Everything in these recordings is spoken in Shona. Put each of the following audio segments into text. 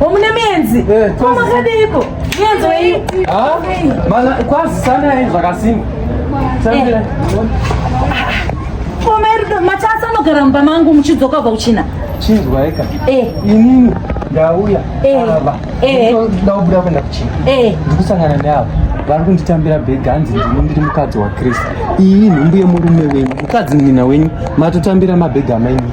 Omune mienzi. Eh, Koma kadiko. Mienzi weyi. Ah, mana kwazi sana henzi zvakasimba. Sambira. Eh. Koma iri machasa anogara mumba mangu muchidzoka kubva kuchina. Chinzwa eka. Eh. Inini ndauya. Eh. Ava. Eh. Ndaubuda kuenda kuchina. Eh. Ndikusangana neavo. vari kunditambira bhegi hanzi ndini ndiri mukadzi wakristu iyi nhumbu yemurume wenyu mukadzi mwina wenyu matotambira mabhegi amainyu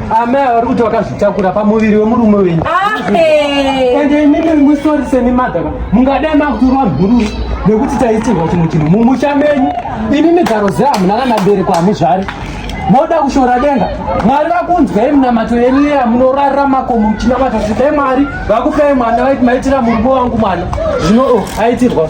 Amai vari kuti vakazvitakura pamuviri wemurume wenyu. Ende imimi musori semi madhaka mungadai makuturwa mhuru nekuti taitirwa chimwe chinhu mumusha menyu imimi garo zehamuna kana bereko hamuzvari moda kushora denga mwari vakunzwai munamato yenyu iya munorarira makomo muchinamata kuti dai mwari vakupei mwana vaiti maitira murume wangu mwana zvino oh, aitirwa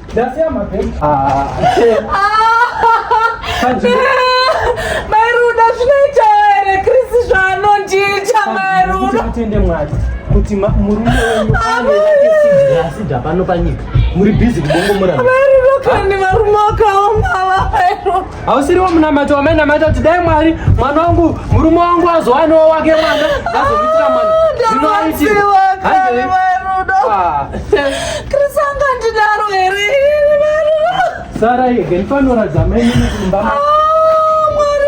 ndasiya mabhemu ah. mairuda zvinoita here krisi zvaanondiita mairuda kutende mwari kuti murume wenyu asi dzapano panyika muri bhizi kubongomora mairuda kani varume wakaomala mairuda hausiriwo munamati wamainamata kuti dai mwari mwana wangu murume wangu azowanewo wake mwana azomuitira mwana zvinokrisanga ah. ndinaro here sara yege ndifanoratidza maine kumba ah, mwari